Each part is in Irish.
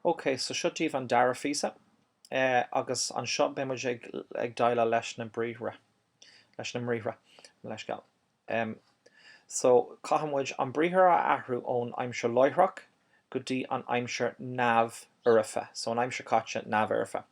Ok, so seo daoibh an dara phíosa, agus anseo beidh muid ag ag déileáil leis na briathra, leis na mbriathra, mo leithscéal. Em, so caithfidh muid an briathar a athrú ón aimsir láithreach go dtí an aimsir neamh-fhoirfe, so an aimsir caite neamh-fhoirfe.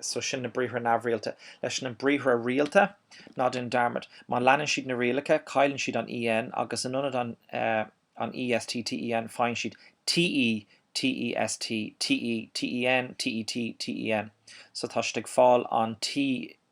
so sin na briathra neamhrialta. Leis na briathra rialta, ná déan dearmad, má leanann siad na rialacha, cailleann siad an EN agus in ionad an an EST, TEN, faigheann siad TE, TEST, TE, TEN, TET, TEN. So tá siad ag fáil an T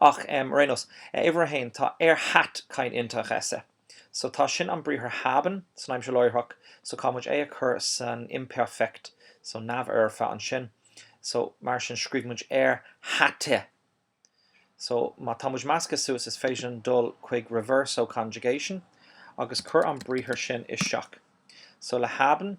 Ach ar aon nós, uimhir a haon, tá er hat kein Interesse. So tá sin an briathar haben san aimsir láithreach, so caithfidh muid é a chur san imperfect, so neamhfhoirfe ansin. So mar sin scríobh muid er hatte. So má tá muid measctha suas is féidir linn dul chuig reverso conjugation agus cur an briathar sin isteach. So le haben,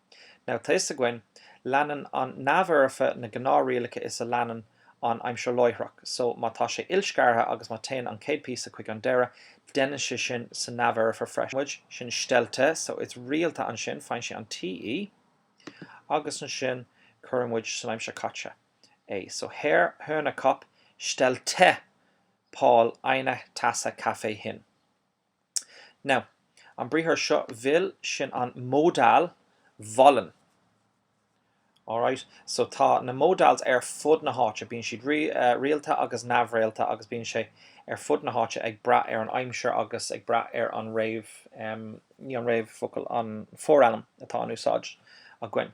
Now tá a fhios againn, leanann an neamhfhoirfe na gnáthrialacha is a leanann an aimsir láithreach, so má tá sé ilscartha agus má téann an chéad píosa chuig an deireadh, deineann sé sin sa neamhfhoirfe freisin. muid sin stellte, so is rialta ansin, faigheann sé an TE, agus ansin cuireann muid san aimsir chaite é, so Herr Hörnerkop stellte Paul eine Tasse Kaffee hin. Now, an briathar seo will, sin an modal wollen. Alright, so tá na modals ar fud na háite, bíonn siad rialta agus neamhrialta agus bíonn sé ar fud na háite ag brath ar an aimsir agus ag brath ar an réamh, ní an réamhfocal, an forainm atá in úsáid againn.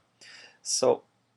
So.